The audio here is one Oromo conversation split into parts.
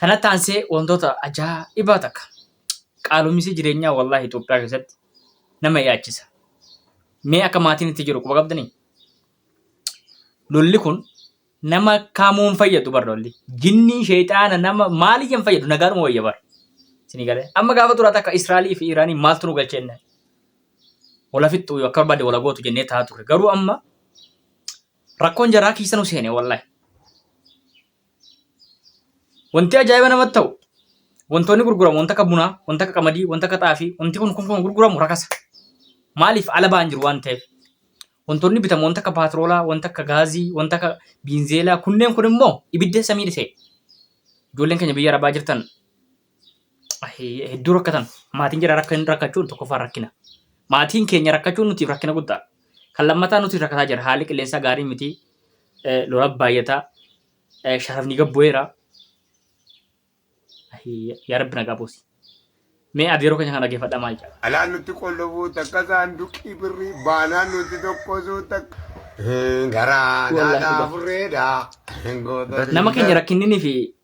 Kanatti aansee wantoota ajaa'ibaa takka qaalumisi jireenyaa wallaahi Itoophiyaa keessatti nama yaachisa. Mee akka maatiin itti jiru quba qabdanii? Lolli kun nama kamuun fayyadu bar lolli. Jinnii sheexaana nama maaliyyeen fayyadu nagaadhuma wayya bar. Isinii galee. Amma gaafa duraa takka Israa'elii fi Iraanii maaltu nu galchee inni? Wala fixxu akka barbaade wala gootu jennee taa'aa turre. Garuu amma rakkoon jaraa keessa nu seene wallaahi. Wanti ajaa'iba namatti ta'u wantoonni gurguramu wanta akka bunaa, wanta akka qamadii, wanta akka xaafii, wanti kun kun kun gurguramu rakasa. Maaliif ala ba'an jiru waan ta'eef. Wantoonni bitamu wanta akka paatiroolaa, wanta akka gaazii, wanta akka biinzeelaa kunneen kun immoo ibidda samii dhisee. Ijoolleen keenya biyya arabaa jirtan hedduu rakkatan maatiin jira rakkan rakkachuun tokkoffaa rakkina maatiin keenya rakkachuun nuti rakkina guddaa kan lammataa nuti rakkataa jira haalli qilleensaa gaarii miti lola baay'ataa sharafni gabbu'eera yaa rabbi nagaa buusi mee ati yeroo keenya kan dhaggeeffadha maal jedha Alaan nutti qollofuu takka saanduqii birrii baanaan nutti tokkosuu takka. Garaa Wallahi naadhaa dhugaa. furreedhaa. nama keenya rakkinninii fi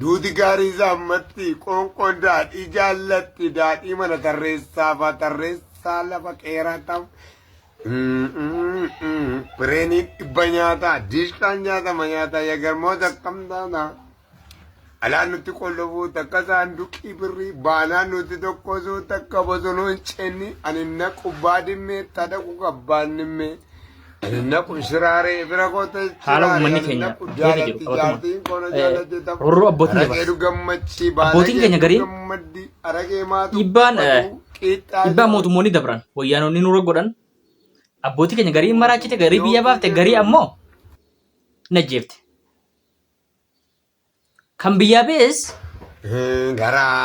Duuti gaarii isaa ammatti, qoonqoon daadhii jaallatti, daadhii mana tarreessaa faa tarreessaa lafa qeeraa ta'u. Bireenii dhibba nyaata, diishqaan nyaatama nyaata, yagarmoota akkam taana. Alaan nutti qollofuu takka saanduqii birrii, baanaan nutti tokkosuu takka bosonuu hin ceenni, ani naqu baadimmee, tadaqu qabbaan dhimmee. haala uummanni keenya keessa jiru qabatuma horroo abbootiin dabarsa abbootiin keenya gariin dhiibbaan dhiibbaa mootummoonni dabran wayyaanonni nurra godhan abbootii keenya garii maraachite garii biyya baafte garii ammoo najjeefte kan biyyaa ba'es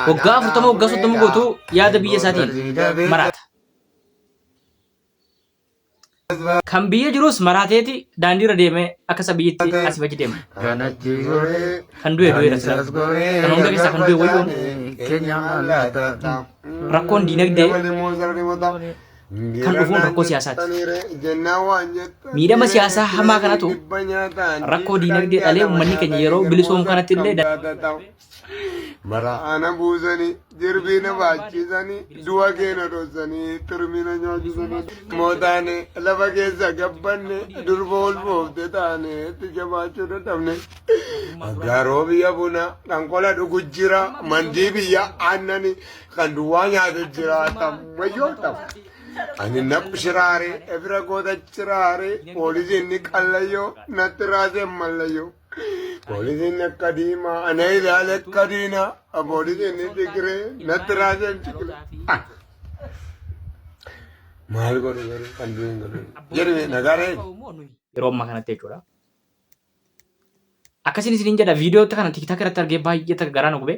waggaa afurtama waggaa soddoma guutuu yaada biyya isaatiin maraata Kan biyya jirus maraateeti daandiirra deemee akka isa biyyitti asii bachi deema. Kanatti goree. Kan du'e du'eera sila. Kanisas goree. Kan hunda keessaa kan du'e wayyoon. Keenya mallaata. Rakkoon diinagdee kan dhufuun rakkoo siyaasaati. Miidhama siyaasaa hamaa kanatu rakkoo diinagdee dhalee uummanni keenya yeroo bilisoomu kanatti illee da- Maraana buusanii jirbii na baachisanii du'a keena dhossanii turmiina nyaachisanii mootaane lafa keessa gabbanne durba ulfoofte taane itti jabaachuu dadhabne. Aggaaroo biyya bunaa kan qola dhugu jira mandii biyya aannani kan duwwaa nyaatu jira tammayyoo ta'u. Ani naf shiraare ebira goota shiraare poolisiin ni qallayyoo natti raasee mallayyoo. Poolisiin akka diimaa ana ilaale akka diinaa poolisiin ni digiree natti raajeen cikile. Maal godhu garuu kan du'in godhu. Jedhame nagaaree. Yeroo ammaa kanatti jechuudha. Akkasiin isiniin jedha viidiyoo kana tiktak irratti argee baay'ee takka garaa na gube.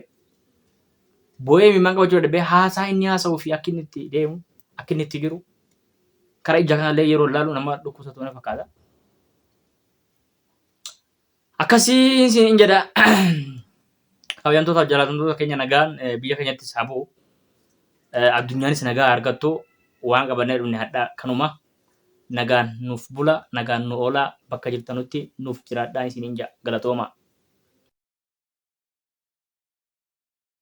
Boo'ee mimaan qabachuu dadhabee haasaa inni haasa'uu fi akka inni itti deemu akka inni itti jiru karaa ija kanallee yeroo ilaalu nama dhukkubsatu na fakkaata. Akkasii isin jedha kabajamtoota jalatamtoota keenya nagaan biyya keenyatti isaa bu'u addunyaanis nagaa argattu waan qabannee dhumne hadhaa kanuma nagaan nuuf bula nagaan nu oolaa bakka jirtanutti nuuf jiraadhaa isin inja galatooma.